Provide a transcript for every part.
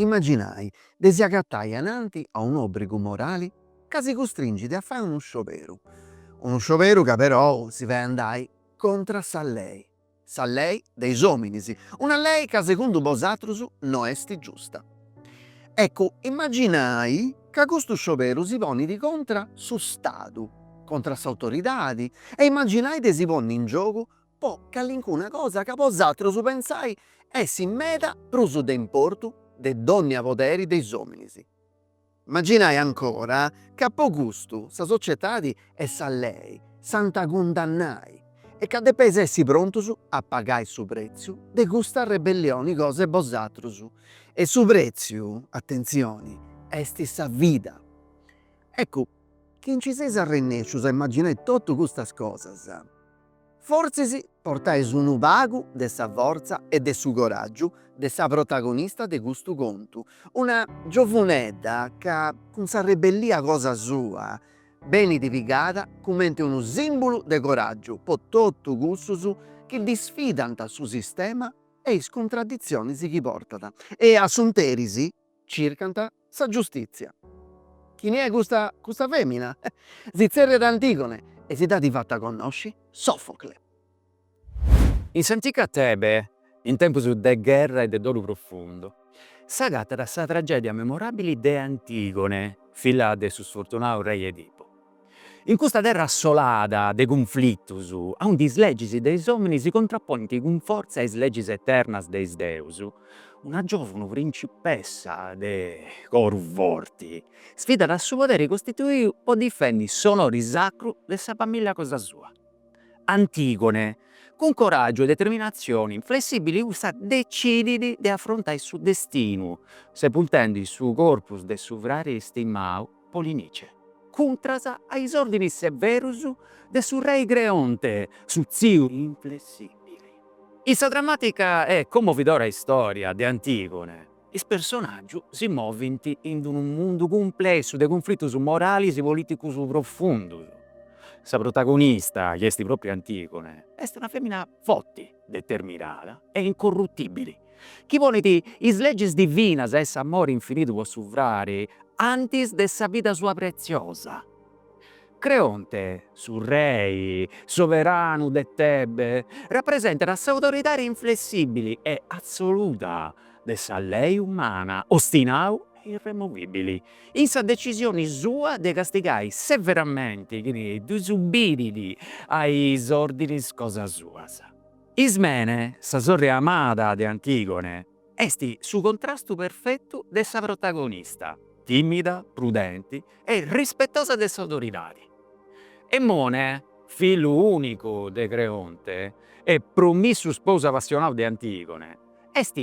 Imaginai de si agatai ananti a un'obrigu morali ca si custringit a fai unu scioberu, unu scioberu ca perou si fait andai contra sa lei, Sa lei de is ominis, una lei ca segundu bosatrus no esti giusta. Eccu, immaginai ca custu scioberu si ponidi contra su Stadu, contra s'autoridadi e immaginai de si ponni in giogu po callincuna cosa ca bosatrus pensai essi meda prus de importu de donnia poderi de is ominis. Imaginai ancora ca po custu sa societadi e sa lei s'ant a cundannai e ca depeis essi prontus a pagai su pretziu de custa rebellioni cosa 'e bosatrus e su pretziu, atentzioni, est sa vida. Eccu, chi nci seis arrennescius a imaginai totu custas cosas. Fortzis portais unu pagu de sa fortza e de su coràgiu de sa protagonista de custu contu, una giovunedda ca cun sa rebellia cosa sua benit pigada cumenti unu sìmbulu de coràgiu po totu cussus chi disfidant su sistema e is cuntraditzionis chi portat e in s'interis circant sa giustìtzia. Chini est custa fèmina? Si tzerriat Antigone e si dd'at fata connosci Sofocle. In s'antica Tebe, in tempus de gherra e de dolu profundu, s'agatat sa tragèdia memoràbili de Antigone, filla de su sfortunadu rei Edipu. In custa terra assolada de cunflitus, aundi is legis de is ominis si contraponint cun fortza a is legis eternas de is deus, una giovuna principessa de coru forti sfidat a su poderi costituiu po difendi s'onori sacru de sa familia cosa sua. Antigone, cun coraggiu e determinatzioni inflessibili cussa decidit de afrontai su destinu, sepultendi su corpus de su frari stimau Polinice, cuntras a is ordinis severus de su rei Creonte, su tziu inflessibili. In sa dramatica e commovidora istoria de Antigone, is personaggius si movint in d-unu mundu cumplessu de cunflitus moralis e politicus profundus. Sa protagonista, chi est propriu Antigone, est una femina forti, determinada e incorrutibili, chi ponit is legis divinas e s'amori infinitu po su frari antis de sa vida sua pretziosa. Creonte, su rei soveranu de Tebe, rapresentat s'autoridadi inflessibili e assoluta de sa lei umana, ostinau e irremovibili. in sa decisioni sua de castigai severamenti chini disubidit a is ordinis cosa suas. Ismene, sa sorri amada de Antigone, est su contrastu perfetu de sa protagonista, timida, prudenti e rispetosa de s'autoridadi. Emone, fillu unicu de Creonte e promissu sposu apassionau de Antigone, est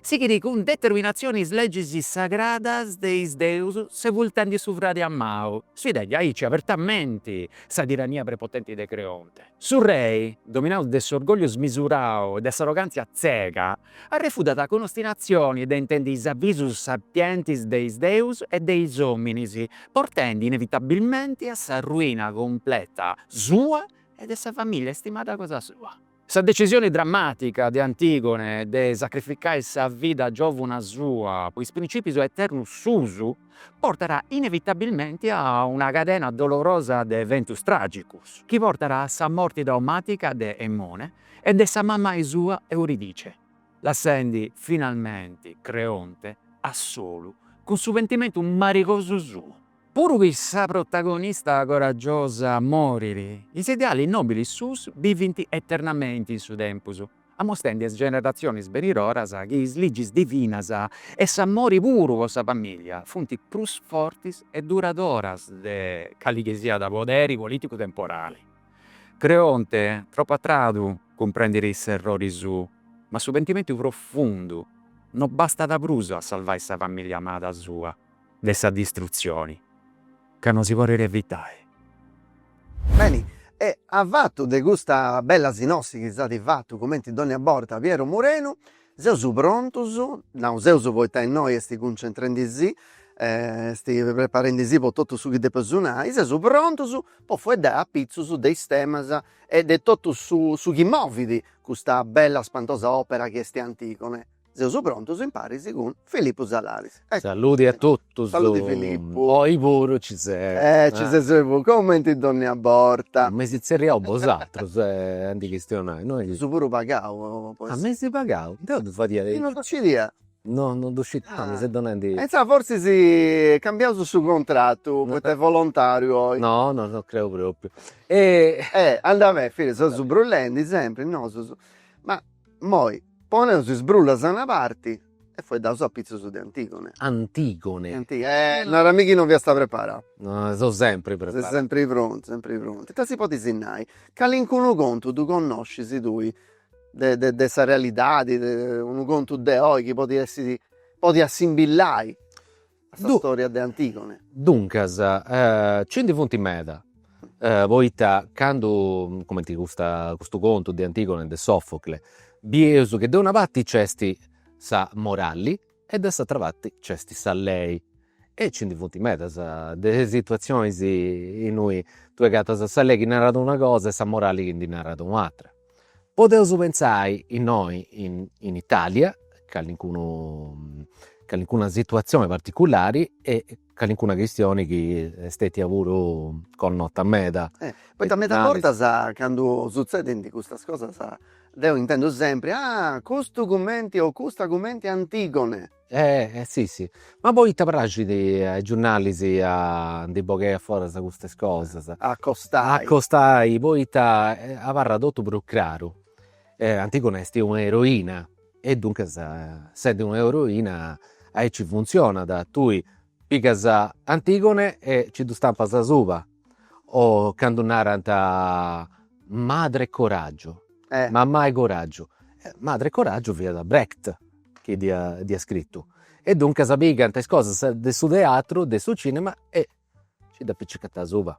Sighit cun determinatzioni is legis sagradas de is deus sepultendi su fradi amau, sfidendi aici abertamenti sa tirania prepotenti de Creonte. Su rei, dominau de s'orgògliu smisurau e de s'arrogàntzia tzega, arrefudat cun ostinatzioni de intendi is avisus sapientis de is deus e de is òminis, portendi inevitabilmenti a sa ruina cumpleta sua e de sa famìllia istimada cosa sua. Sa decisione drammàtica de Antigone de sacrificai sa vida giòvuna sua po is principius eternus suus portat inevitabilmente a una cadena dolorosa de eventus tràgicus chi portat a sa morte traumàtica de Emone e de sa mamai sua Euridice, lassendi finalmenti Creonte a solu cun su pentimentu marigosu suo. Puru chi sa protagonista coragiosa morit, is idealis nobilis suus bivint eternamenti in su tempus, amostendi a is generatzionis benidoras chi is legis divinas e s'amori puru po sa famìllia funt prus fortis e duradoras de cali chi siat poderi polìticu temporali. Creonte, tropu a tradu, cumprendit s'errori suu, ma su pentimentu profundu no bastat prus a salvai sa famìllia amada sua, de sa distrutzioni, ca no si podet evitai. Beni, e a fatu de custa bella sinossi chi s'at fatu cumenti dònnia borta Piero Murenu, seus prontus, nau seus poita innoi est cuncentrendi si, est preparendi si po totu su chi depeus nai, seus prontus po fueddai apitzus de is temas e de totu su chi movit custa bella spantosa òpera chi est Antigone. Seus prontus imparis cun Filippu Salaris. Saludi a totus. Saludi Filippu. Oi puru ci seu. Eh ci ses oi puru, comenti dònnia borta. M'eis tzerriau bosatrus e ap'a chistionai, no est chi. Ses puru pagau po essi. Ah m'eis pagau? Deu ddu fadia aici. Chi non ddu scidia? No, non ddu scidia. Ah mi ses donandi. E intzà fortzis cambiaus su contratu poita est volontàriu oi. No, no, no creu pròpriu. E. Eh andat beni, Filippu, seus brulendi sempri nosus. Ma moi. Poneus is brullas a una parti e fueddaus apitzus de Antigone. Antigone. Antigone. Nara·mì chi non fiasta preparau. Seu sempri preparau. Ses sempri prontu, sempri prontu. Ita si podit nai? Calincunu contu ddu connoscis tui de de de sa realidadi, unu contu de oi chi podit essi, podit assimbillai A sa storia de Antigone. Duncas, ci ndi funt meda, poita candu, cumenti custa custu contu de Antigone de Sofocle, bieus chi de una parti c'est sa moralli e de s'atera parti c'est sa lei. E ci ndi funt medas de situatzionis innui ddue agatas sa lei chi narat una cosa e sa moralli chi ndi narat u' atera Podeus pentzai innoi in Italia, callincunu callincuna situatzioni particulari e callincuna chistioni chi est stetia puru connota meda. Poita meda bortas candu sutzedint custas cosas deu intendu sempri, ah custu cumenti o custa cumenti Antigone Eh si si, ma poita praxit a is giurnalis a ndi bogai aforas custas cosas. A acostai. A acostai, poita abarrat totu prus craru. Antigone est una eroina e duncas sendidi una eroina aici funtzionat, tui Pigas Antigone e nci ddu stampas asuba o candu narant madre coraggio, mamai coraggio, madre coraggio fiat Brecht chi dd'iat scritu e duncas pigant is cosas de su teatru, de su cinema e nci dd'apicicant asuba.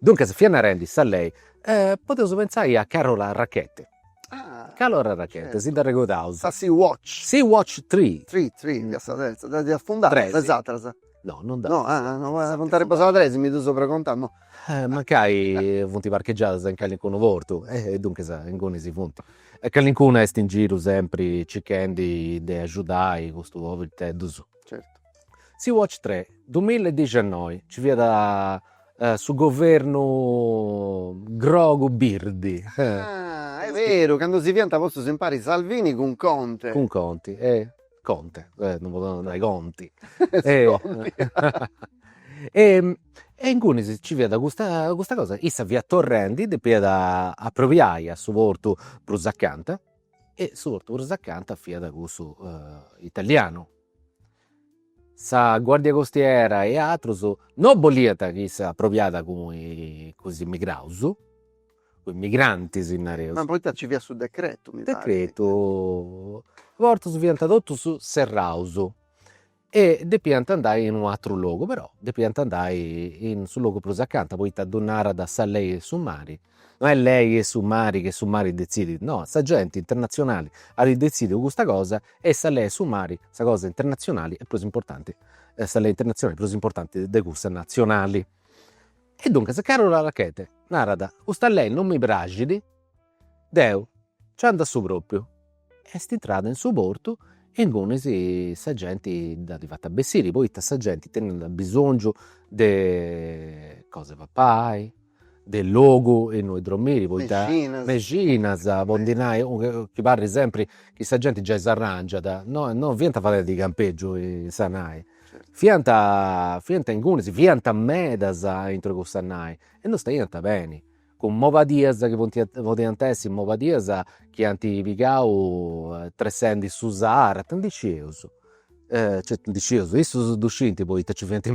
Duncas fia narendi sa lei, e podeus pentzai a Carola Rackete. Ah. Carola Rackete, si dd'arregodaus. Sa Sea Watch. Sea Watch Three. Three, three, fiat sa terza, ddas iat afundadas. Tres. Is atras. No, non ddas. No, ah, no, funt arribbaus a sa tres, mi ddu seu pregontau, no. Mancai funt parcheggiadas in calincunu portu, e duncas inguni si funt. E calincunu est in giru sempri circhendi de agiudai custus poberiteddus. Certu. Sea Watch tre, duamilla e dixennoi, nci fiat su governu grogu birdi. Ah est beru, cando si fiant postus impari Salvini cun Conte. Cun Conti e Conte, non podeus non nai Conti e ingunis ci fiat custa custa cosa, issa fiat torrendi, depiat aprobiai a su portu prus acanta e su portu prus acanta fiat cussu italianu Sa guardia costiera e atrus no bolliant chi issa aprobiàt cun is immigraus, cun is migrantis nareus. Ma poita ci fiat su decretu mi parit. Decretu, is portus fiant totus serraus e depiant andai in u' atru logu, però depiant andai in su logu prus acanta, poita ddu narat sa lei 'e su mari, No est lei 'e su mari chi est su mari detzidit, no, sa genti internatzionali at detzidiu custa cosa e sa lei 'e su mari, sa cosa internatzionali est prus importanti, sa lei internatzionali est prus importanti de cussa natzionali. E duncas Carola Rackete narat, custa lei non mi praxit, deu nci andu a su propriu Est intrada in su portu e ingunis sa genti dd'at fata bessiri, poita sa genti teniat abisongiu de cosa de papai, de logu innui dromiri, poita, mexinas, po ndi nai, chi parit sempri chi sa genti giai s'arrangiat, no no fiant fadendi campegiu in sa nai, fiant fiant ingunis, fiant medas intro cussa nai e no staiant beni cun mobadias chi funt podiant essi mobadias chi ant pigau tressendi su Sahara, ita ndi scius, certu ndi scius, issus ddu scint poita nci fiant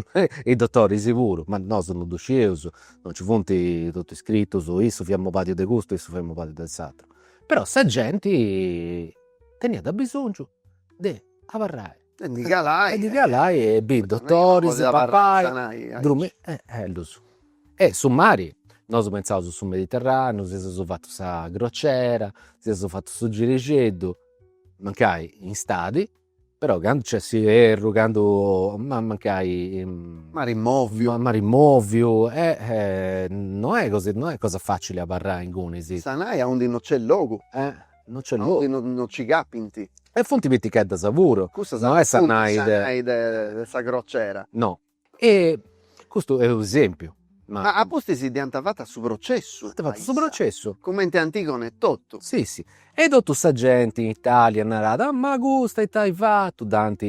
is dotoris puru, ma nosu non ddu scieus, non nci funt totu iscritus, issu fiat mobadiu de custu e issu fiat mobadiu de s'ateru, però sa genti teniat abisongiu de abarrai E ndi calai. E ndi calai e bì dotoris, papai, dromiri e e ddus. E su mari, nosu pentzaus su Mediterraneu, si seus fatu sa crociera, si seus fatu su girixeddu, mancai in istadi, però candu nc'est s'ierru, candu ma mancai. Mari moviu. Mari moviu e no est cosa facili abarrai ingunis in sa nai aundi no nc'est logu. No nc'est logu. Aundi no nci capint. E funt piticheddas puru. Custas no est sa nai de. Sa nai de sa crocera. No. E custu est un'esempiu. Ma. Ma a pustis dd'ant fatu su processu. Ant fatu su processu. Cumenti Antigone etotu. Si si. E totu sa genti in Italia narat, ma custa ita at fatu, dd'ant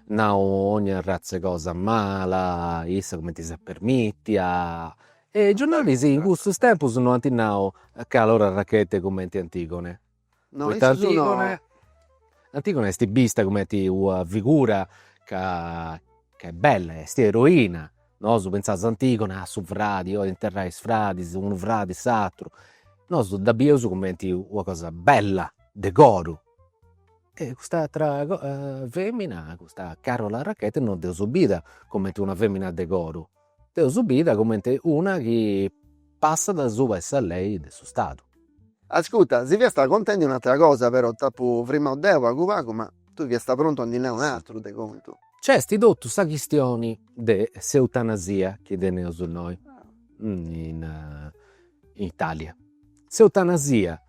nau ogna arratz'e cosa mala, issa cumenti s'est permitia, E is giornalis in cussus tempus no ant nau Carola Rackete cumenti Antigone. No, poita issu no. Antigone est bista cumenti una figura ca ca est bella, est eroina. Nosu pentzaus Antigone, ah su fradi, 'olit interrai is fradis, unu fradi s'aturu. Nosu dda bieus cumenti una cosa bella, de coru. E cust'atra femina, custa Carola Rackete, no dd'eus bida cumenti una femina de coru Dd'eus bida cumenti una chi passat asuba 'e sa lei de su Stadu. Ascuta, si fiasta contendi un'atra cosa, però t'apo frimadu deu pagu pagu, ma tui fiasta prontu a ndi nai un'atru de contu. Nc'est totu sa chistioni de s'eutanasia chi teneus innoi in Italia. S'eutanasia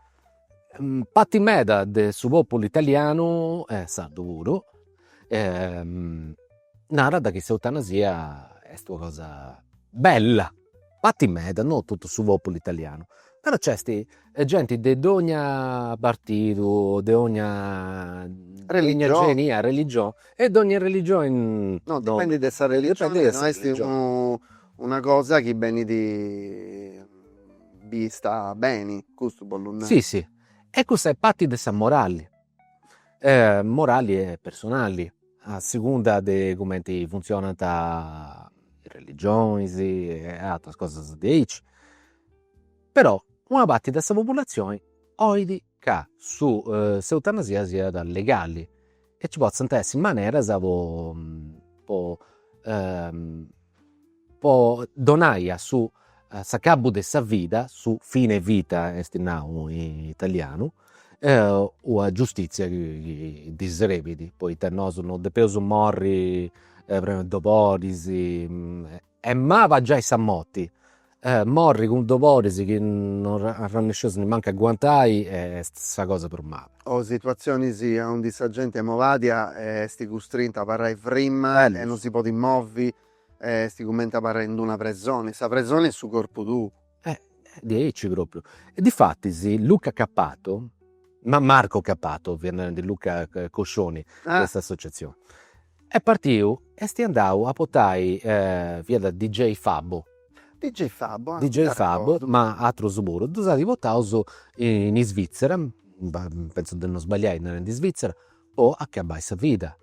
Parti meda de su populu italianu e sardu puru narat chi s'eutanasia est una cosa bella, parti meda, no totu su populu italianu, però nc'est genti de dogna partidu, de dogna genia religioni e de dogna religioni. No dipendit de sa religioni, no est unu una cosa chi benit bista beni, custu 'ollu nai. Sissi, e cussa est parti de sa morali, morali e personali, a segunda de cumenti funtzionant is religionis e ateras cosas diaici, però una parti de sa populatzioni 'olit ca su s'eutanasia siat legali e ci potzant essi maneras po po donai a su s'acabu de sa vida, su fine vita esti nau in italianu, una giustizia chi ddi serbit, poita nosu non depeus morri cun doboris, est mala giai sa morti Morri cun doboris chi non arrannèscius nimancu a aguantai est sa cosa prus mala. O situatzionis aundi sa genti mobadia est custrinta a abarrai frimma e non si podit movi e est cumenti abarrai in d'una presoni. Sa presoni est su corpu tuu. Diaici propriu. E difatis Luca Cappato, ma Marco Cappato fiat narendi Luca Coscioni de s'associatzioni, Est partiu e est andau a portai, fiat DJ Fabo. DJ Fabo, ah. DJ Fabo, ma atrus puru. Ddus at portaus in Isvitzera, pentzu de non sbagliai narendi Isvitzera, po acabai sa vida.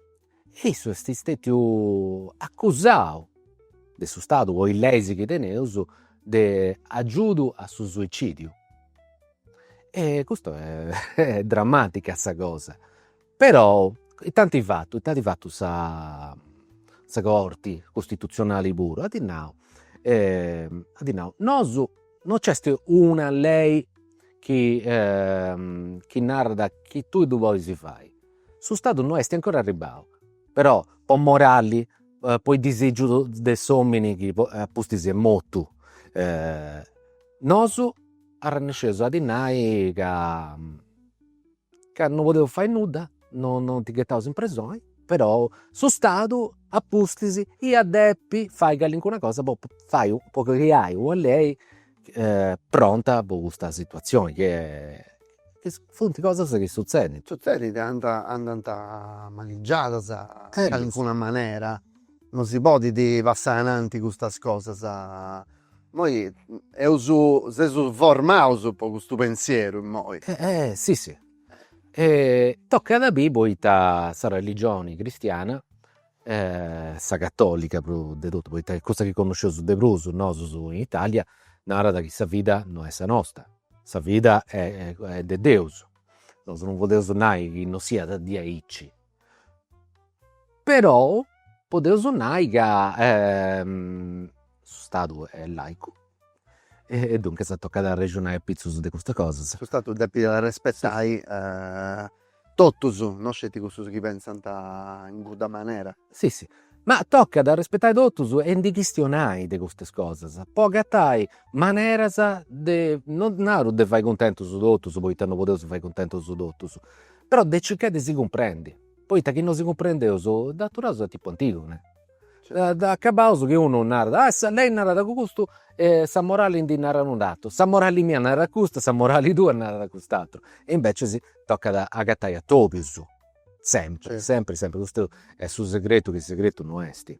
E issu est stetiu acusau de su Stadu po is leis chi teneus de agiudu a su suicidiu. E custu est dramatica sa cosa Però, intanti at fatu, intanti at fatu sa sa Corti costitutzionali puru, at nau at nau, nosu non nc'est una lei chi chi narat chi tui ddu pois fai, su Stadu no esti ancora arribbau, però po morali po is disìgius de s'omini chi apustis est mortu nosu arrannèscius a ddi nai ca Ca no podeus fai nudda, no no ti ghetaus in presoni, però su Stadu a pustis iat depi fai calincuna cosa po fai u po creai una lei pronta po custa situazioni chi est funt cosas chi sutzedint. Sutzedint andà andant manigiadas in calincuna manera, no si podit passai ananti custas cosas Immoi seus seus formaus po custu pensieru innoi. Si si e tocat a biri poita sa religioni cristiana sa catolica prus de totu poita est cussa chi connosceus de prus nosus in Italia narat chi sa vida no est sa nosta, sa vida est de Deus, nosu non podeus nai chi non siat diaici però podeus nai ca su stadu est laicu e duncas tocat a arrexonai apitzus de custas cosas. Su stadu depit arrespetai totus, non sceti cussus chi pentzant in cudda manera. Si si, ma tocat a arrespetai totus e ndi chistionai de custas cosas po agatai maneras de, non naru de fai cuntentus totus, poita non podeus fai cuntentus totus, Però de circai de si cumprendi, poita chi no si cumprendeus dd'aturaus a tipu Antigone, dd'acabaus chi unu narat, ah sa lei narat custu e sa morali ndi narat un'atru, sa morali mia narat custu e sa morali tua narat cust'ateru, e invecias tocat agatai a totus, sempri, sempri, sempri, custu est su segretu chi segretu no est.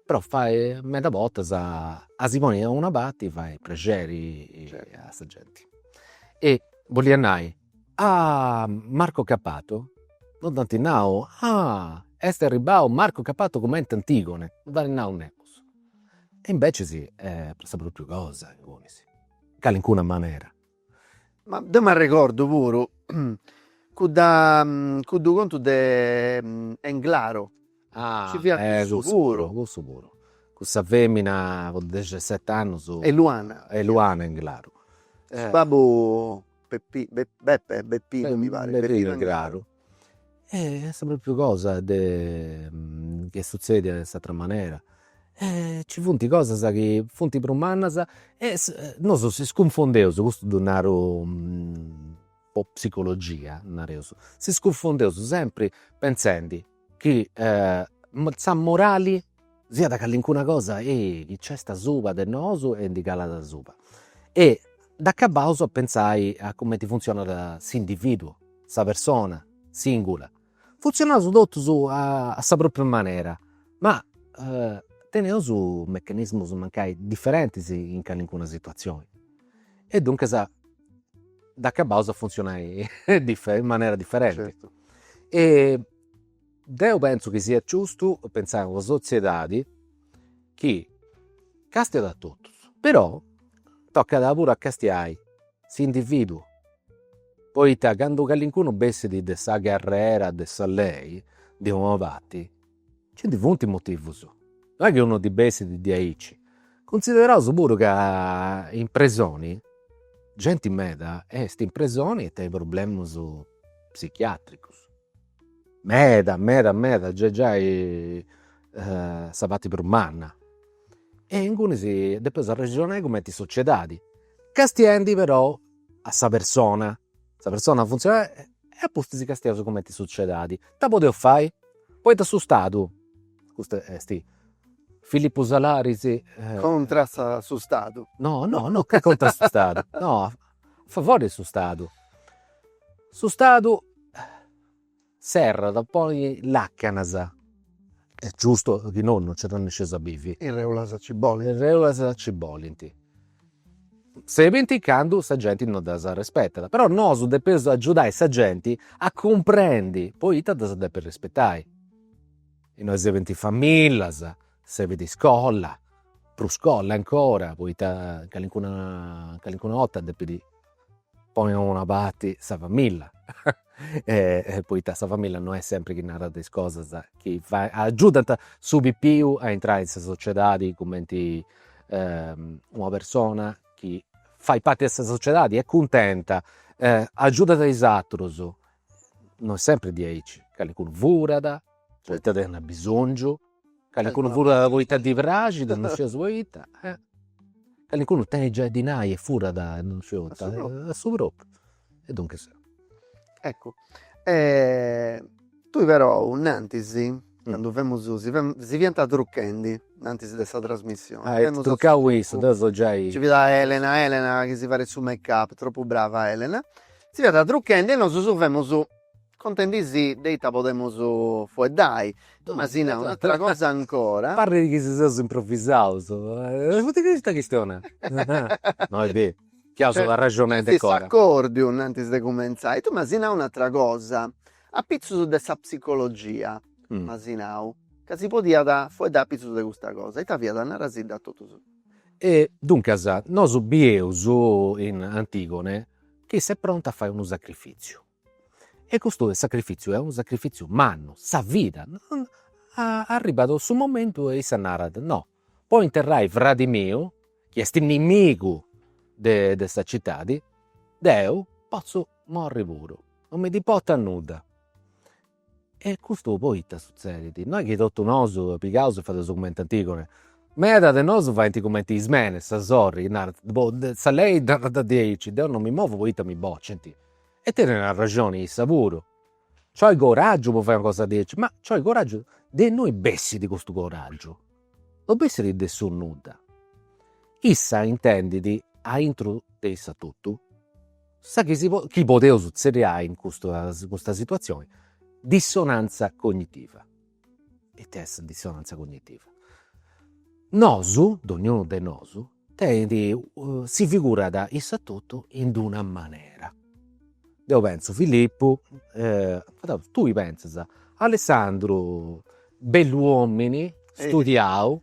Però fai, meda bortas a si ponni a una parti fait prexeri a sa genti e bolit nai A Marco Cappato no dd'ant nau, ah! est arribbau Marco Cappato cumenti Antigone, no dd'ant nau nemus. E invecias est sa propriu cosa ingunis, in calincuna manera. Ma deu m'arregordu puru cudda cuddu contu de Englaro, nci fiat cussu puru. Cussu puru, cussa femina po dexeseti annus. Eluana. Eluana Englaro. Su babbu Peppi Beppe e Beppino mi paret Beppino Englaro e est propriu cosa chi est suzzedia in s'atera manera e nci funt cosas chi funt prus mannas e nosu si cunfondeus, custu ddu naru po psicologia nareus, si cunfondeus sempri pentzendi Chi sa morali siat callincuna cosa chi nc'est asuba de nosu e ndi calat asuba e dd'acabaus de pentzai a cumenti funtzionat s'individuu, sa persona singula. Funtzionaus totus a sa propriu manera, ma teneus meccanismus mancai differentis in callincuna situazioni e duncas dd'acabaus a funtzionai in manera differenti e deu pensu chi siat giustu pensai a una sotziedadi chi castiat a totus, però tocat puru a castiai s'individuu, poita candu calincunu bessit de sa carrera de sa lei de una parti Nci ndi funt motivus, non est chi unu ddi bessit diaici, cunsideraus puru ca in presoni genti meda est in presoni e tenit problemus psichiatricus, meda meda meda, giai giai sa parti prus manna e ingunis depeus arrexonai cumenti sociedadi, castiendi però a sa persona Sa persona funtzionat e a pustis castiaus cumenti sociedadi. Ita podeus fai? Poita su Stadu, custu est Filippu Salaris, Contra su Stadu. No no no contra su Stadu, no, a favori 'e su Stadu. Su Stadu Serbit a ponni làcanas. Est giustu chi nono no nci arrennesceus a bivi. Is rèulas nci bolint. Is rèulas nci bolint. Serbint candu sa genti no ddas arrespetat. Però nosu depeus agiudai sa genti a cumprendi poita ddas depit arrespetai. Innoi serbint famillas, serbit iscola, prus scola ancora, poita calincuna calincuna 'orta depit poni a una parti sa familla poita sa familla no est sempri chi narat is cosas chi agiudant su pipiu a intrai in sa sociedadi cumenti una persona chi fait parti de sa sociedadi est cuntenta agiudat is atrus, no est sempri diaici, callincunu furat, poita tenit abisongiu Calincunu furat poita ddi praxit e non scit poita, calincunu tenit giai a ddi nai e furat e non scit poita, a su propriu, e duncas. Eccu tui però nant'is, candu femus, si femus, si fiant truchendi, nant'is de sa trasmissioni, femus a su propriu, nci fiat Elena, Elena chi si farit su make up, tropu brava Elena, si fiant truchendi e nosu femus Contendi-sì de ita podemus fueddai. Tunasina, un'atra cosa ancora. Parrit chi si seus improvisaus. Poita chi custa chistioni? No est beru, chi aus una arraxoni a ite cosa. S'acòrdiu, antis de cumentzai. Tu m'asi nau un'atra cosa, apitzus de sa psicologia, m'asi nau, ca si podiat fueddai apitzus de custa cosa. Ita fiat? Narasidda a totus. E duncas, nosu bieus in Antigone chi s'est prontu a fai unu sacrifìtziu. E custu sacrifìtziu est unu sacrifìtziu mannu, sa vida. Arribbat su momentu e issa narat, no, po interrai fradi miu, chi est nimigu de sa citadi, deu potzu morri puru, no mi ndi importat nudda. E custu poita sutzedit? No est chi totu nosu pigaus e fadeus cumenti Antigone? Meda de nosu faint cumenti Ismene, sa sorri, narant, boh, sa lei dda narat diaici, deu no mi movu poita mi bocint. E tenint arrexoni issus puru. Nc'olit coràgiu po fai una cosa diaici, ma nc'olit coràgiu, de innui bessit custu coràgiu, no bessit de su nudda. Issa intendit aintru de issa totu. Sa chi chi podeus tzerriai in custu in custa situatzioni, dissonantza cognitiva. Ita est dissonantza cognitiva? Nosu, dognunu de nosu, tenit si figurat issa a totu in d'una manera. Deu pentzu Filippu, tui pentzas Alessandru, bellu omini, studiau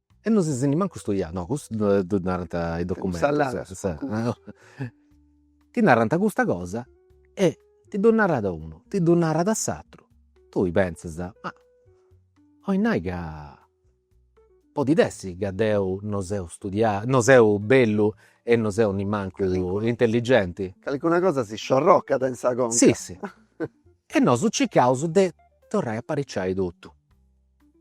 E non ses nimancu studiau, no custu ddu narant is documentus, ti narant custa cosa e ti ddu narat unu, ti ddu narat s'aturu, tui pentzas, ma 'olit nai ca podit essi ca deu non seu studiau, non seu bellu e non seu nimancu intelligenti. Calincuna cosa si sciorrocat in sa conca. Sì sì e nosu circaus de torrai a apariciai totu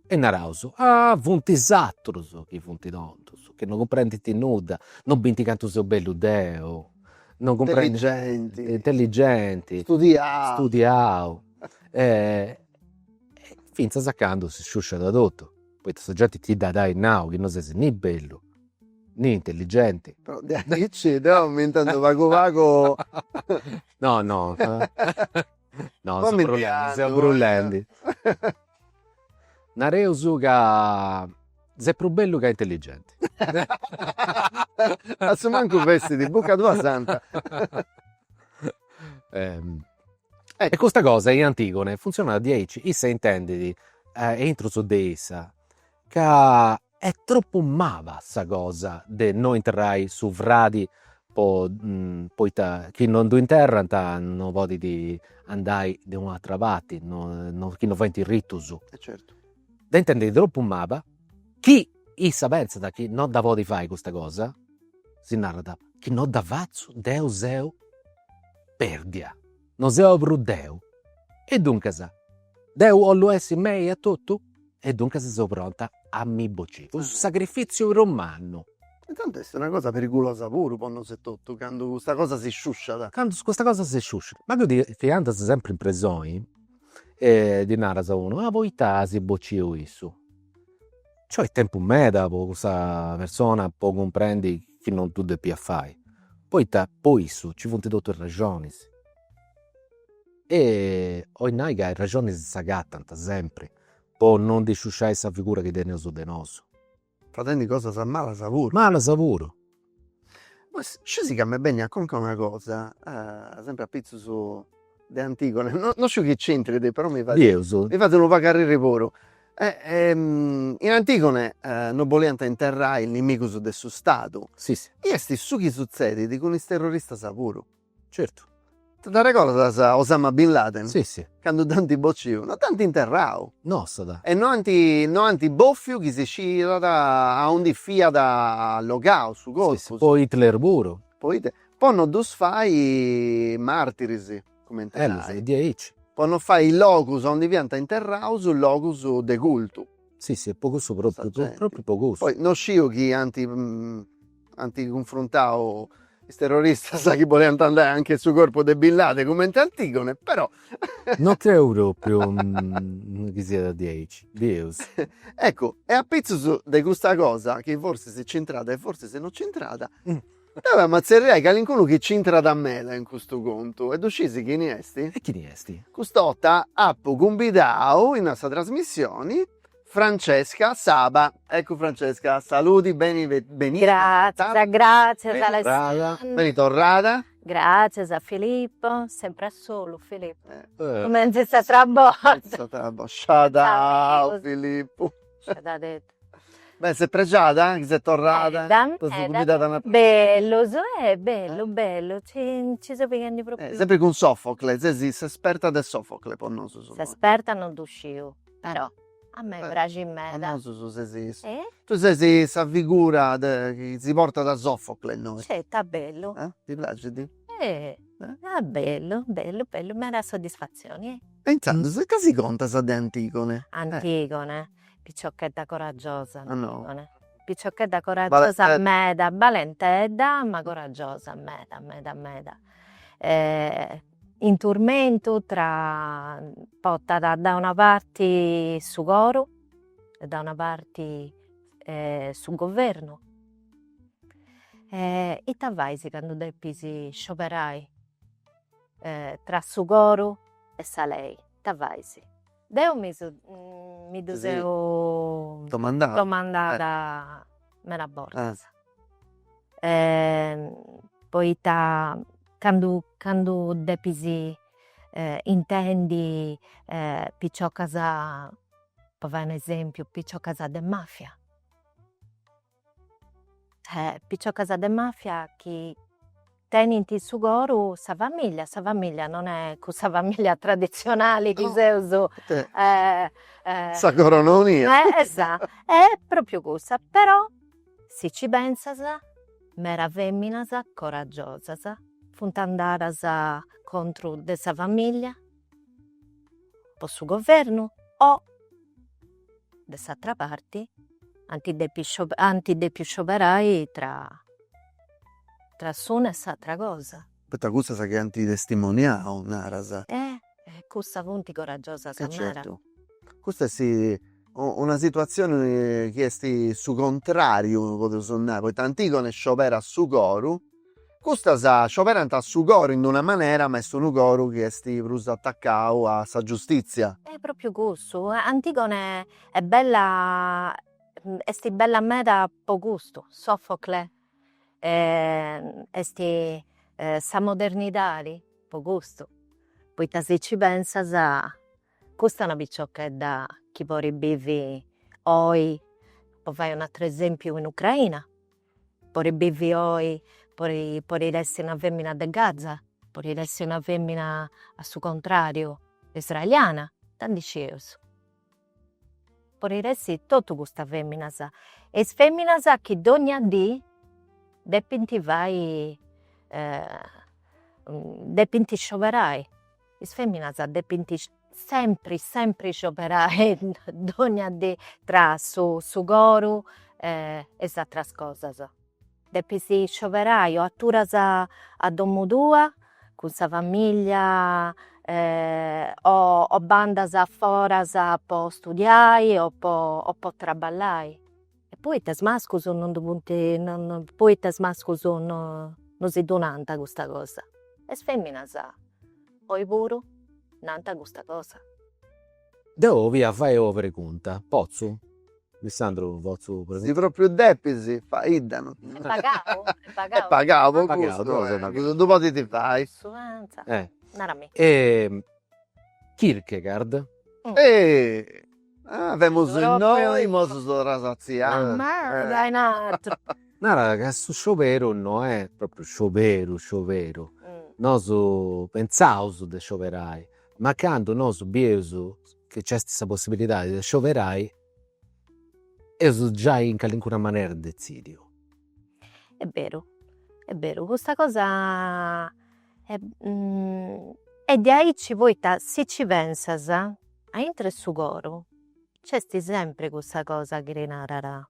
E naraus, ah funt is atrus chi funt tontus, chi non cumprendint nudda, non binti cantu seu bellu deu, non cumprendint, intelligenti, intelligenti, studiau, studiau fintzas a candu si sciusciat totu, poita sa genti ti dd'at a ai nau chi non ses ni bellu, ni intelligenti. Però diaici deu m'intendu pagu pagu No no no seu brulendi, seu brulendi Nareus ca ses prus bellu che intelligenti. A su mancu fessit in bucca tua santa. E custa cosa in Antigone funtzionat diaici, issa intendit a intrus de issa ca Est tropu maba sa cosa de no interrai su fradi po poita chi non ddu interrant no podit andai de una atra parti, chi no faint ritus. E certu. Dda intendit tropu maba, chi issa pentzat chi no dda podit fai custa cosa, si narat, chi no dda fatzu deu seu perdia No seu prus deu? E duncas, deu 'ollu essi mei etotu? E duncas seu pronta a mi bociri, cun su sagrifìtziu prus mannu. E tanti est una cosa perigulosa puru po nosu etotu, candu custa cosa si sciusciat. Candu custa cosa si sciusciat. Ma chi tui andas sempri in presoni e ddi naras a unu, ah poita as bociu issu. Nci 'olit tempus meda po cussa persona po cumprendi chi non ddu depiat fai, poita po issu nci funt totus is raxonis. E 'olit nai ca is raxonis s'agatant sempri po non ndi sciusciai sa figura chi teneus de nosu. Fadendi cosas malas puru. Malas puru Poi scis ca m'est benia a conca una cosa sempre apitzus de Antigone no sciu chi c'intrit però mi fait unu pagu arriri puru e in Antigone non boliant interrai nimigus de su stadu e est su chi suzzedit cun is terroristas puru Certu. T'arregordas Osama Bin Laden? Si, si. Candu dd'ant bociu, no dd'ant interrau. Nossat. E no ant, no ant bòfiu chi si sciiat aundi fiat allogau su corpus. Si, si. Po Hitler puru. Po Hitler. Po no ddus fai martiris, cumenti nai. Berus, est diaici. Po no fai logus aundi fiant interraus logus de cultu. Si, si, e po cussu propriu, propriu po cussu. Poi no sciu chi ant. Ant cunfruntau is terroristas chi boliant andai anche su corpu de Bin Laden cumenti Antigone, però. No creu propriu chi siat diaici, berus. Eccu, e apitzus de custa cosa chi forsis nc'intrat e forsis no nc'intrat, deu emu a tzerriai calincunu chi nc'intrat meda in custu contu e ddu scisi chini est? E chini est? Cust'ota apu cumbidau in sa trasmissioni Francesca Saba eccu Francesca saludi beni benida gratzias gratzias Alessandra beni torrada gratzias a Filippo sempre a solu Filippo cumenti s'attra borta sciadau Filippu beh ses pregiada chi ses torrada berus eh bellu bellu ci seu pighendi propriu sempri cun Sofocle ses s'esperta de Sofocle po nosu s'esperta non ddu sciu Però a me praxit meda. Famosu ses. E? Tu ses sa figura de chi si portat a Sofocle innoi. Sceti, a bellu. E? Ti praxit? E? A bellu, bellu, bellu, meda soddisfatzioni, e? E intzandus ita si contas de Antigone? Antigone, piciochedda coragiosa Antigone. Piciochedda coragiosa meda, balentedda ma coragiosa meda meda meda. in turmentu ca portat da una parti su coru e da una parti su governu e ita fais candu depis scioberai tra su coru e sa lei, ita fais? Deu mi su mi ddu seu domandada domandada meda bortas poita candu candu depis intendi piciocas po fai un'esempiu piciocas de mafia piciocas de mafia chi tenint in su coru sa familia, sa familia non est cussa familia tradizionali chi seus su coru no mia est propriu cussa, però si ci pensas meda feminas coragiosas funt andadas contro de sa familia po su governu o de s'atra parti ant ant depiu scioberai tra tra s'una e s'atra cosa. Poita cussas chi ant testimoniau naras. E cussas funt coragiosas naras. E certu. Custa est una situazioni chi est su contrariu podus nai, poita Antigone scioberat su coru Custas scioberant a su coru in una manera, ma est unu coru chi est prus atacau a sa giustìtzia. E pròpiu cussu, Antigone est bella est bella meda po custu, Sofocle est sa modernidadi po custu, poita si ci pensas custa est una piciochedda chi podit bivi oi, po fai un'ateru esèmpiu, in Ucraina Podit bivi oi po podit essi una femina de Gaza podit essi una femina a su contrariu israeliana ita ndi scieus podit essi totu custas feminas e is feminas chi dogna dì depint fai depint scioberai Is feminas depint sempri sempri scioberai dogna dì tra su su coru e is atras cosas. Depis scioberai o aturas a domu tua cun sa famiglia o o bandas foras po studiai o po o po traballai Poetas mascus non ddu funt is poetas mascus no no si ddu nant custa cosa e is feminas oi puru nant custa cosa. Deu 'olia a fai ua pregunta, potzu? Alessandru potzu preguntà? Si propriu depis faidda no. Est pagau? Est pagau? Est pagau po custu, ddu podit fai. Nara·mì. Kierkegaard. Ah femus innoi nosu torraus a su scioberu. Nara ca su scioberu no est propriu scioberu scioberu, nosu pentzaus de scioberai, ma candu nosu bieus chi nc'est sa possibilidadi de scioberai eus giai in calincuna manera detzidiu. Est beru, est beru, custa cosa est diaici poita si ci pensas a intro 'e su coro c'esti sempri cussa cosa chi ti narat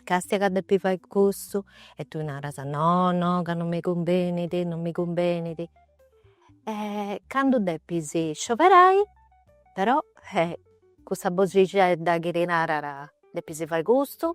castia ca depis fai custu e tui naras no no ca non mi cumbenit non mi cumbenit e candu depis scioberai però cussa boxixedda chi ti narat depis fai custu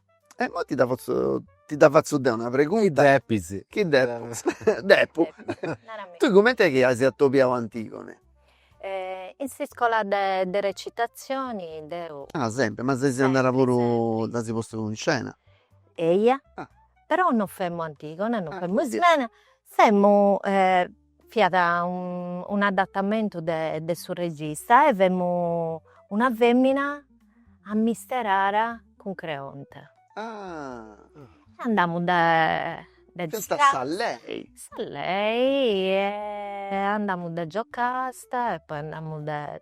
E immoi ti dda fatzu ti dda fatzu deu una pregunta. Chi depis. Chi depus depu. Narami. Tui cumenti est chi as atobiadu Antigone? In s'iscola de de recitazioni deu. Ah sempri, ma ses andada puru, dd'as postu in scena? Eia, però non femu Antigone, non femu Ismene, femu Fiat un'adatamentu de su regista e femu una femina amesturada cun Creonte. E andamu de e andamu de Giocasta e poi andamu de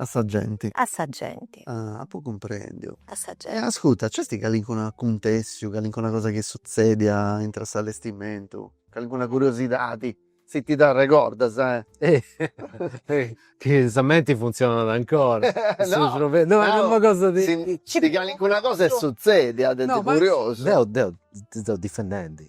A sa genti. A sa genti. Ah, apu cumprendiu. A sa genti. E ascurta, nc'est calincunu acontèssiu, calincuna cosa chi est sutzèdia intra a s'allestimentu? Calincuna curiosidadi, si ti dda arregordas, eh? Chi sa menti funtzionat ancora. No! No, est una cosa de. Si calincuna cosa est sutzèdia de curiosu. Deu, deu, ti seu difendendi.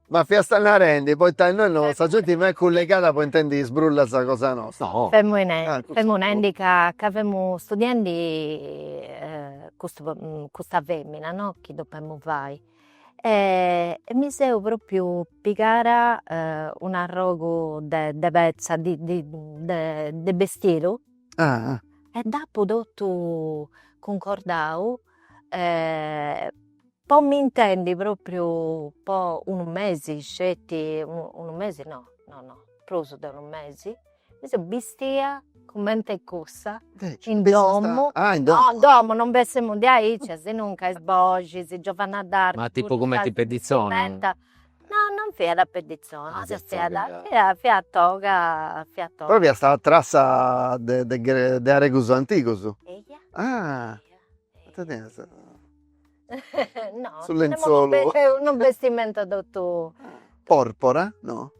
Ma fiasta narendi poita innoi no sa genti no est cullegada po intendi is brullas cosa nosta. Femu femu nendi ca ca femu studiendi custu custa femina no chi depemu fai e mi seu propriu pigada un'arrogu de de petza di di de bestidu e dd'apu totu cuncordau Po mi intendi propriu po unu mesi sceti, unu mesi no no no prus de unu mesi, mi seu bistia comente cussa in domo, no in domo non bessemu de aici e sinuncas is boxis, Giovanna d'Arco, ma tipu cumenti pedizzoni, no non fiat pedizzoni, fiat fiat toga, fiat toga, però fiat sa trassa de de aregus antigus, ah No. Su lenzolu. Unu bestimentu totu. Porpora, no?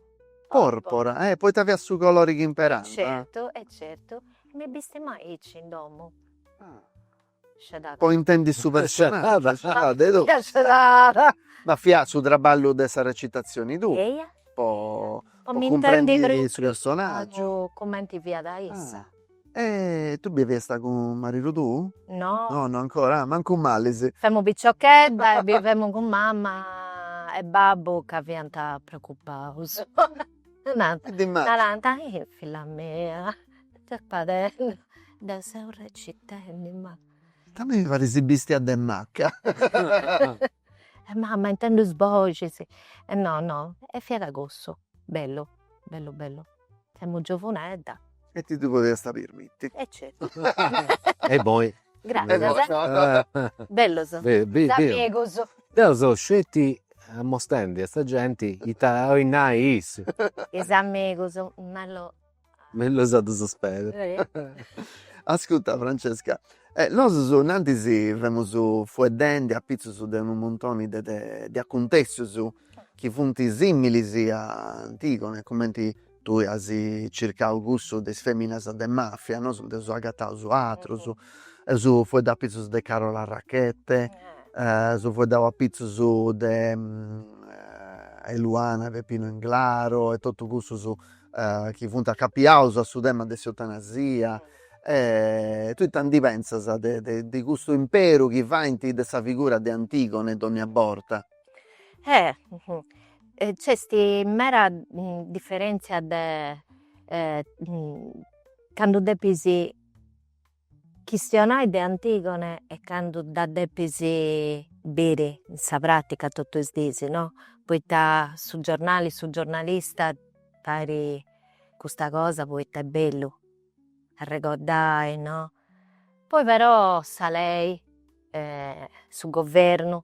Porpora. Eh poita fiat su colori chi imperànt. Certu e certu. Mi bistemu aici in domu. Sciadada. Po intendi su personaggiu. Sciadada de totu. Fiat sciadada. Ma fiat su traballu de sa recitazioni tua. Eia. Po cumprendi su personaggiu. Cumenti fiat issa. E tui biviasta cun maridu tuu? No. No no ancora? Ah mancu malis. Femu piciochedda e bivemu cun mamma e babbu ca fiant preocupaus. Nant. E timiant. Narant, eh filla mia, ita fadendi? Deu seu recitendi ma. A mei mi parit si bistiat de macca. E mamma intendu is boxis. E no no e fiat cussu, bellu bellu bellu. Femu giovunedda. E ti ddu podiasta pirmiti. E certu. E immoi. Gratzias. Bellus is amigus. Deu seu sceti ammostendi a sa genti ita oi nai issu. Is amigus mellus. Mellus a ddus perdi. Ascutta Francesca, nosus innantis femus fueddendi apitzus de unu muntoni de de de accuntessius. chi funt similis a Antigone, cumenti tui as circau cussu de is feminas de mafia, nosu nd'eus agataus atrus, eus fueddau apitzus de Carola Rackete, eus fueddau apitzus de Eluana e Beppino Englaro e totus cussus chi funt acapiaus a su tema de s'eutanasia e tui ita ndi pentzas de custu imperu chi faint de sa figura de Antigone dogna borta. Nc'est mera diferentzia de candu depis chistionai de Antigone e candu dda depis biri in sa pratica totu is dis no, poita su giornali, su giornalista fait custa cosa poita est bellu arregordai no, poi però sa lei su governu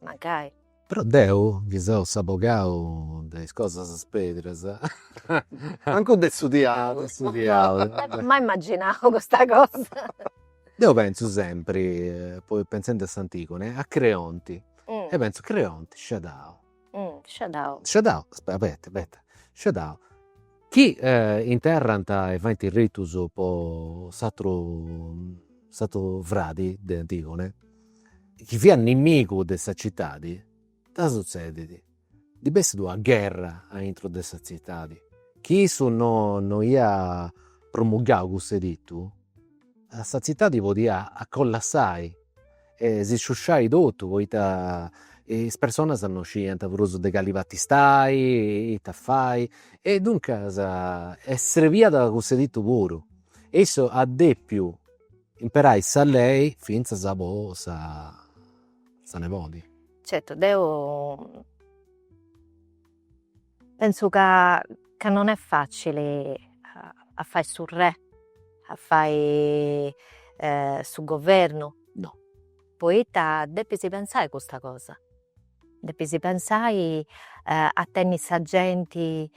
mancai. Però deu chi seu s'abogau de is cosas perdas mancu de su diaulu. M'apu mai imaginau custa cosa. Deu pentzu sempri, poi pentzendi a s'Antigone, a Creonti e pentzu, Creonti, Sciadau. Sciadau. Sciadau, aspetta, abeta, abeta, Sciadau, chi interrant e faint is ritus po s'ateru s'ateru fradi de Antigone chi fiat nimigu de sa citadi, ita sutzedit, ndi bessit una gherra aintru de sa tzitadi, chi issu no no iat promulgau cuss'editu, sa tzitadi podiat collassai e si sciusciai totu, poita is personas no scidiant prus de cali parti stai, ita fai, e duncas serbiat cuss'editu puru e issu at depiu imperai sa lei fintzas po sa nebodi. Certu deu pentzu ca non est facili a fai su re, a fai su governu. No. Poita depis pensai custa cosa. Depis pensai a tenni sa genti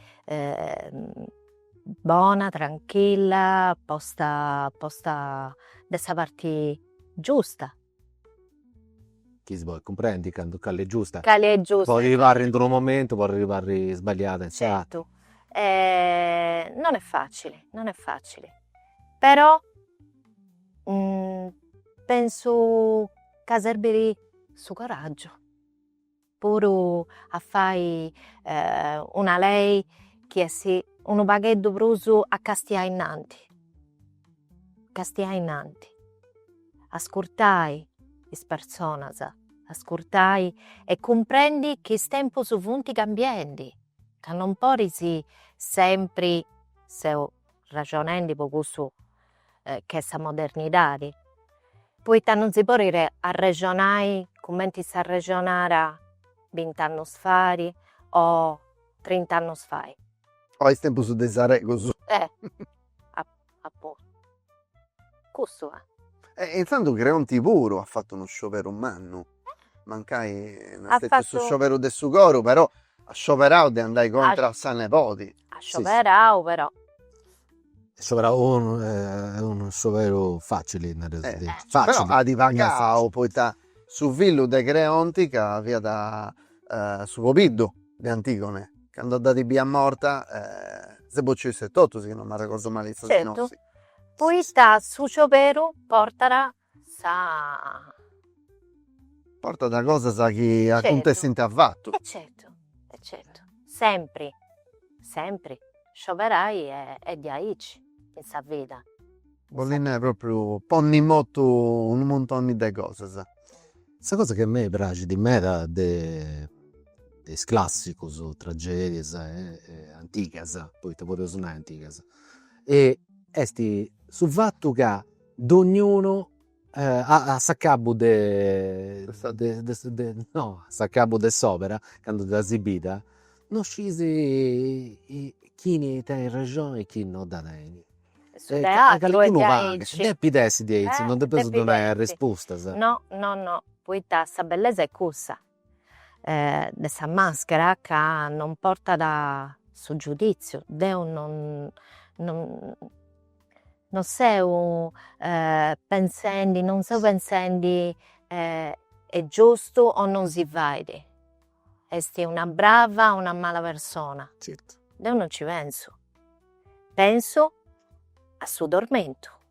bona, tranchilla, posta posta de sa parti giusta. Chi si podit cumprendi candu cali est giusta. Cali est giusta. Podit parri in d-unu momentu, podit parri sbaliada in s'aturu. Certu, non est facili, non est facili, però pensu ca serbit su coraggiu puru a fai una lei chi bessit unu pagheddu prus a castiai innanti, castiai innanti, ascurtai is personas, ascurtai e cumprendi chi is tempus funt cambiendi, ca non podis sempri, seu raxonendi po cussu ch'est sa modernidade, poita non si podet arrexonai cumenti s'arrexonara bint'annos fai o trint'annos fai. O is tempus de is Aregus. E appuntu, cussu est. E intzandus Creonti puru at fatu unu scioberu mannu, mancai no est stetiu su scioberu de su coru, però at scioberau de andai contra a sa nebodi. At scioberau però. At scioberau unu, no est unu scioberu facili naraus aici. Però at pagau poita su fillu de Creonti ca fiat su pobiddu de Antigone candu dd'at biia morta si est bociu issu etotu si non m'arregordu mali. Certu poita su scioberu portat sa. Portat cosas chi acuntessint afatu. E certu, e certu. Sempri, sempri, scioberai est diaici, ist sa vida. Bollit nai propriu ponni in motu unu muntoni de cosas. Sa cosa chi a mei praxit meda de is classicus, tragedias antigas, poita podeus nai antigas, est su fatu ca Dognunu a s'acabu de no a s'acabu de s'opera candu dd'as bida no scis chini tenit rexoni e chini no dda tenit. E calincunu pagu depit essi diaici, non depeus donai arrespustas. No no no, poita sa bellesa est cussa. de sa maschera ca non portat su giuditziu, deu non non seu pensendi non seu pensendi est giustu o non si fait, est una brava o una mala persona, deu non ci pensu, pensu a su tormentu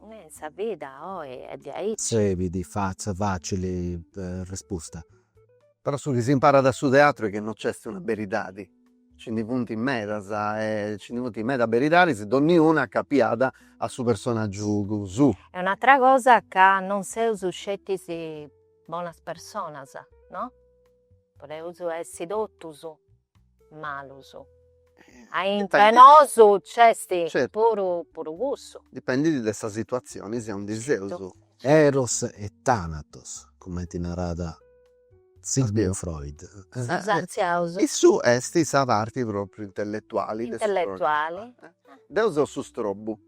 Ue in sa vida oi est diaici. Tzebit fatza facili respusta. Però su chi s'imparat a su teatru est chi no nc'est una beridadi, nci ndi funt medas e nci ndi funt medas beridadis, donniuna acapiada a su personaggiu suu. E un'atra cosa ca non seus sceti is bonas personas, no? Podeus essi totus malus. Aintru 'e nosu nc'est puru puru cussu. Dipendit de sa situazioni aundi seus. Eros e Tanatos, cumenti narat Sigmund Freud. Issu est sa parti propriu intelletuali de su progettu. Deu seu su strobu.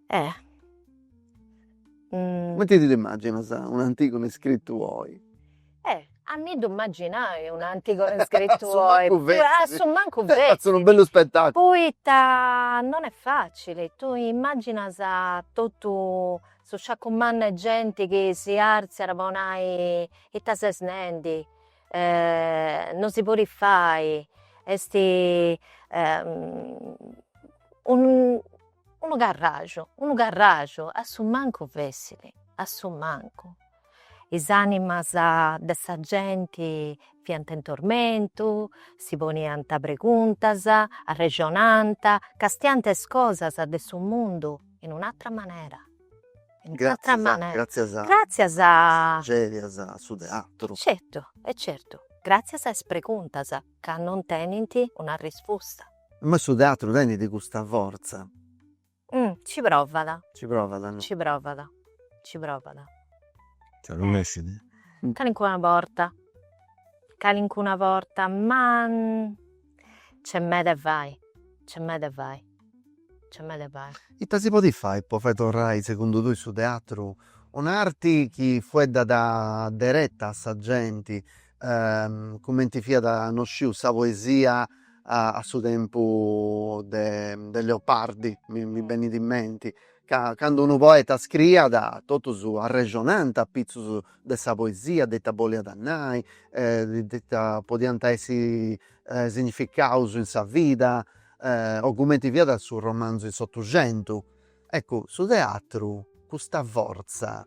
Comenti ti dd'immagginas un'Antigone iscrittu oi? Eh a mi ddu immagginai un'Antigone iscrittu oi, a su mancu fessit, fatzu unu bellu spettaculu, poita non est facili, tui immagginas totu su sciaccu mannu 'e genti chi si arziat po nai ita ses nendi, non si podit fai, est Unu carraju, unu carraju, a su mancu fessit, a su mancu. Is animas de sa genti fiant in tormentu, si poniant preguntas, arrexonant, castiant is cosas de su mundu in un'atra manera. Gratzias gratzias a is tragedias a su teatru. Certu, e certu, gratzias a is preguntas ca non tenint una risposta. Ma su teatru tenit custa fortza. Ci provat. Ci provat no. Ci provat. Ci provat. Ca non essit. Calincuna borta. Calincuna borta. Ma nc'est meda 'e fai. Nc'est meda 'e fai. Nc'est meda 'e fai. Ita si podit fai po fai torrai segundu tui su teatru un'arti chi fueddat dereta a sa genti cumenti fiat no sciu sa poesia a su tempu de Leopardi mi benit in menti ca candu unu poeta scriiat totus arrexonant apitzus de sa poesia de ita boliat nai de ita podiant essi significaus in sa vida o cumenti fiat su romanzu in s'otuxentu eccu su teatru custa fortza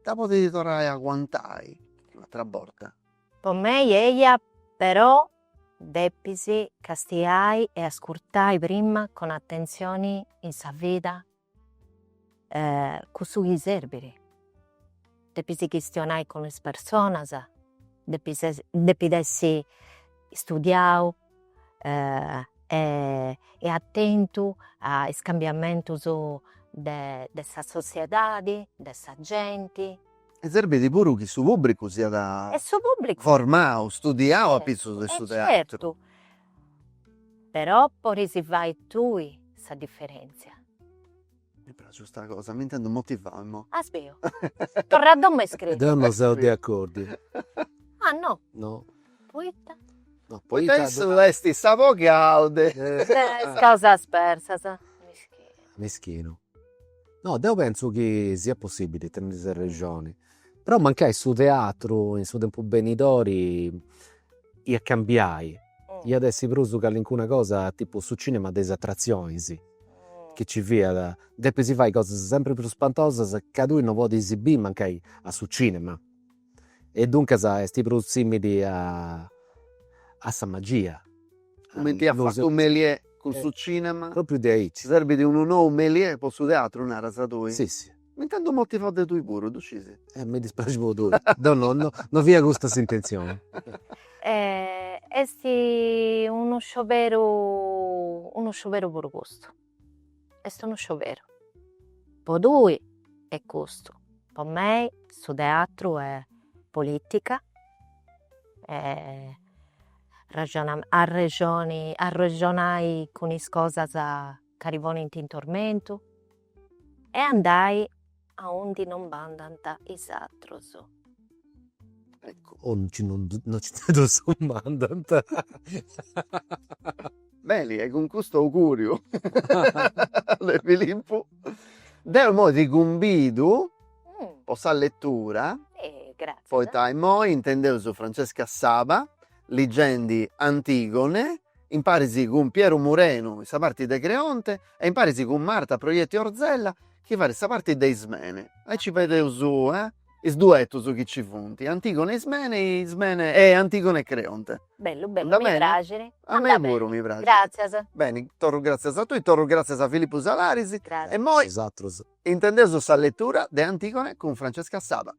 dda podit torrai a aguantai un'atra borta. Po mei eia però depis castiai e ascurtai prima cun atentzioni in sa vida cussu chi serbit, depis chistionai cun is personas, depis depit essi studiau e atentu a is cambiamentus de de sa sotziedadi, de sa genti. E serbit puru chi su pubbricu siat e su pubbricu formau, studiau a pitzus de su teatru. E certu, però podis fai tui sa differenzia. Mi praxit custa cosa, m'intendo motivau immo. As biu? Torra a domo e scrivi. Deu no seu de acordiu. Ah no? No. Poita? No poita. Poita issu est sa poghe alde. Is causas persas. Mischinu. Mischinu. No, deu pentzu chi siat possibili, tenit s'arrexoni. Però mancai su teatru in su tempus benidori iat a cambiai, iat a essi prus calincuna cosa tipu su cinema de is atrazionis chi nci fiat, depis fai cosas sempri prus spantosas ca tui no podis biri mancai a su cinema e duncas est prus simili a sa magia. Cumenti at fatu Méliès cun su cinema. Propriu diaici. Serbit unu nou Méliès po su teatru naras tui? Si si. M'intendu motivau de tui puru, ddu scisi. E mi dispraxit po tui. Deu no, no, no fiat custa s'intentzioni. Est unu scioberu, unu scioberu puru custu. Est unu scioberu. Po tui est custu, po mei su teatru est politica, arrexonai cun is cosas chi ti ponint in tormentu E andai aundi no andant is atrus. Eccu, o chi no nci ddus mandant. Beni, e cun custu augùriu de Filippu, deu immoi ti cumbidu po sa letura. Poita immoi intendeus Francesca Saba ligendi Antigone. imparis cun Pieru Murenu in sa parti de Creonte e imparis cun Marta Proietti Orzella chi fait sa parti de Ismene. Aici fadeus is duetus chi ci funt, Antigone e Ismene e Ismene e Antigone e Creonte. Bellu bellu, mi praxit. A mei puru mi praxit. Gràtzias. Beni, torru gràtzias a tui, torru gràtzias a Filipu Salaris e imoi. Is atrus. Intendeus sa letura de Antigone cun Francesca Saba.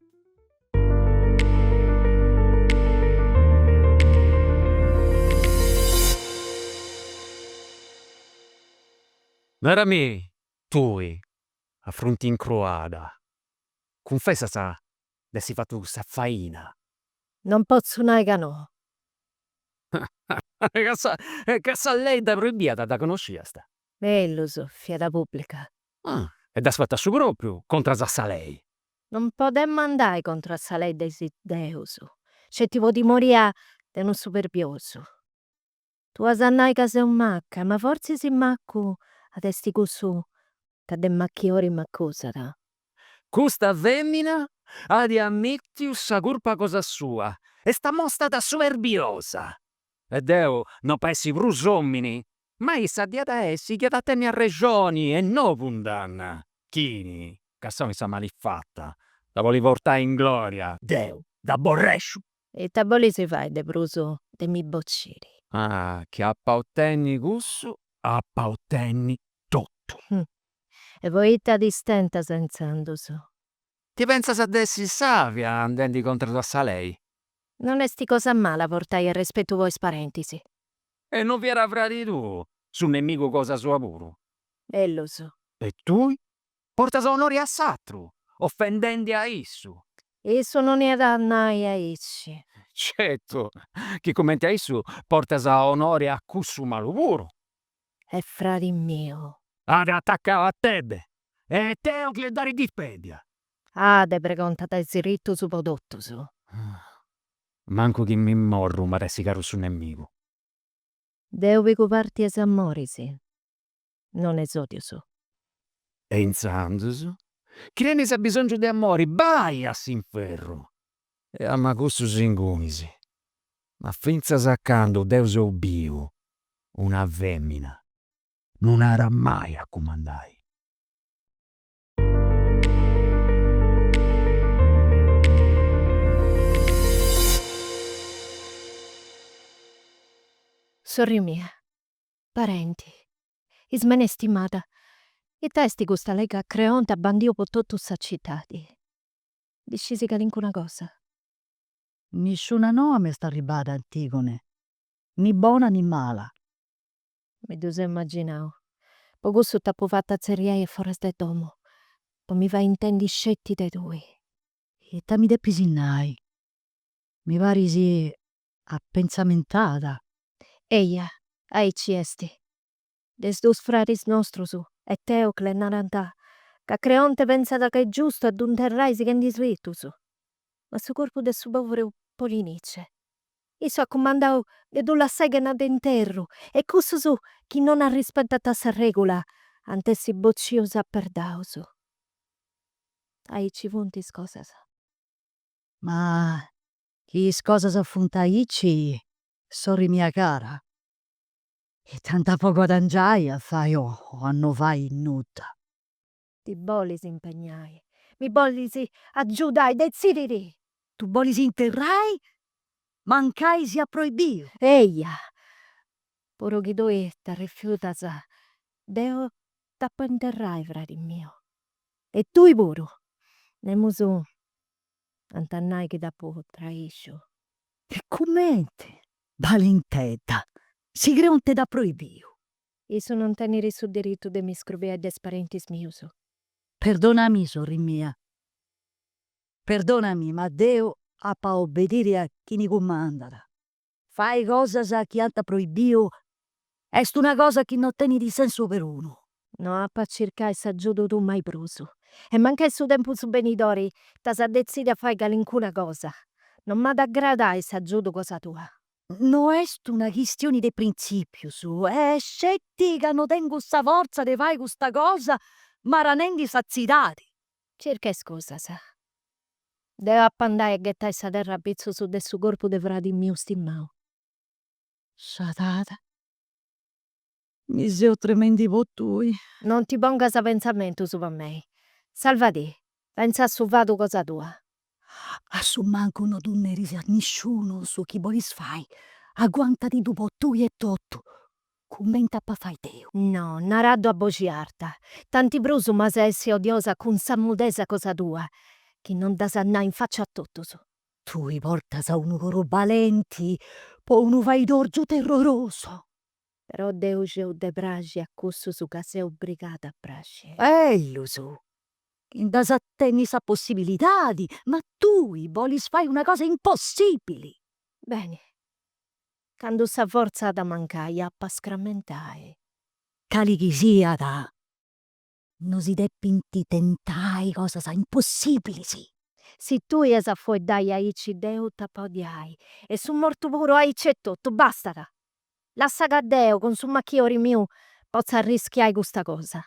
Narami tui, a frunti incruada, cunfessas de essi fatu cussa faina? Non potzu nai ca no. Ca sa lei dda proibiat dda connosciast? Berus, fiat pubblica. E dd'as fatu a su propriu contras a sa lei? Non podemmo andai contro a sa lei de is deus, sceti po timoria de unu superbiosu. Tu as a nai ca seu macca, ma fortzis maccu est cussu ca de macchiori m'accusat. Custa femina at ammittiu sa curpa cosa sua, est ammostada si superbiosa. E deu no pa essi prus omini Ma issa diat a essi chi at a tenni arrexoni e no cundanna, chini cassau in sa malifata, dda bolit portai in glòria. Deu dd'aborrexu! Ita bolis fai de prus de mi bociri? Chi apu a tenni cussu, apu a tenni totu. E poita ti stentas intzandus? Ti pensas de essi sàvia andendi contras a sa lei? Non est cosa mala portai arrespetu po is parentis. E no fiat fradi tuu su nemigu cosa sua puru. Ellus. E tui portas onori a s'atru, offendendi a issu. E issu no iat a nai aici. Certu chi cumenti a issu portas onori a cussu malu puru. Est fradi miu. At atacau a Tebe. E deu chi est dari dispedia. Ade pregontat is rittus po totus. Mancu chi imoi mortu m'at a essi caru su nemigu. Deu pigu parti 'e s'amoris, non 'e s'odius. E intzandus, chi tenis abisongiu de amori, bai a s'inferru! E ama cussus inguni, ma fintzas a candu deu seu biu, una femina non at mai a cumandai. Sorri mia, parenti, Ismene istimada, ita esti custa lei ca Creonte at bandiu po totu sa citadi? Ndi scis calincuna cosa? Nisciuna noa m'est arribada Antigone, ni bona ni mala. Mi ddu seu imaginau. Po cussu t'apu fatu atzerriai a foras de domu, po mi fai intendi sceti de tui. Ita mi depis nai? Mi paris apentzamentata. Eia, aici est. De is dus fradis nostrus, Eteocle, narant ca Creonte pentzat ca est giustu a dd'interrai sighendi is ritus. ma su corpu de su poveru Polinice. Issu at cumandau de ddu lassai chena de interru e cussus chi non arrispetant sa regula ant a essi bocius a perdaus. Aici funt is cosas. Ma chi is cosas funt aici, sorri mia cara, ita nd'apu a guadangiai a fai o a no fai nudda. Ti bolis impegnai. Mi bolis agiudai. Detzidi·dì! Ddu bolis interrai? Mancai siat proibiu. Eia! Puru chi tui t'arrifiutas, deu dd'apu a interrai, fradi miu. E tuu puru. Nemus at a nai chi t'apu traisciu. E cumenti? Balintedda! Si Creonte dd'at proibiu. Issu non tenit su diritu de mi scrobiai de is parentis mius. Perdonami sorri mia. Perdonami ma deu apu a obediri a chini cumandat. Fai cosas chi ant proibiu est una cosa chi no tenit sensu perunu. No apu a circai s'agiudu tuu mai prus. E mancai in su tempus benidori t'as a detzidi a fai calincuna cosa, non m'at a agradai s'agiudu cosa tua. No est una chistioni de printzìpius, est sceti ca no tengu sa fortza de fai custa cosa marranendi sa tzidadi. Circa iscusas. Deu ap'a andai a ghetai sa terra apitzus de su corpu de fradi miu stimau. Scedada. Mi seu tremendi po tui. Non ti pongas pentzamentus po mei. Salva-ti, pentza a su fadu cosa tua. A su mancu no ddu neris a nisciunu su chi bolis fai, aguanta-ti-ddu po tui etotu, cumenti ap'a fai deu. No, naraddu a boxi arta. Tanti prus m'as a essi odiosa cun sa mudesa cosa tua, chi non dd'as a nai in faccia a totus. Tui portas unu coru balenti po unu faidorgiu terrorosu. Però deu sciu de praxi a cussus ca seu obrigada a praxi. Bellu, si nd'as a tenni sa possibilidadi, ma tui bolis fai una cosa impossibili! Beni, candu sa fortza at a mancai, ap'a scrammentai. Cali chi siat, No si depint tentai cosas impossìbilis. Si tui as a fueddai aici deu t'apu a odiai e su mortu puru aici etotu, bastat! Lassa ca deu, cun su machiori miu, potza arrischiai custa cosa.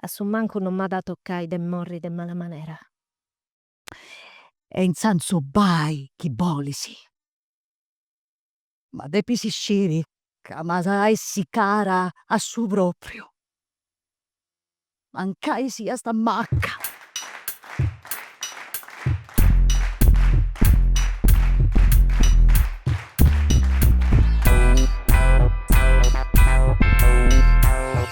A su mancu no m'at a tocai de morri de mala manera. E intzandus bai chi bolis. Ma depis sciri ca m'as a essi cara a su propriu, mancai siast macca.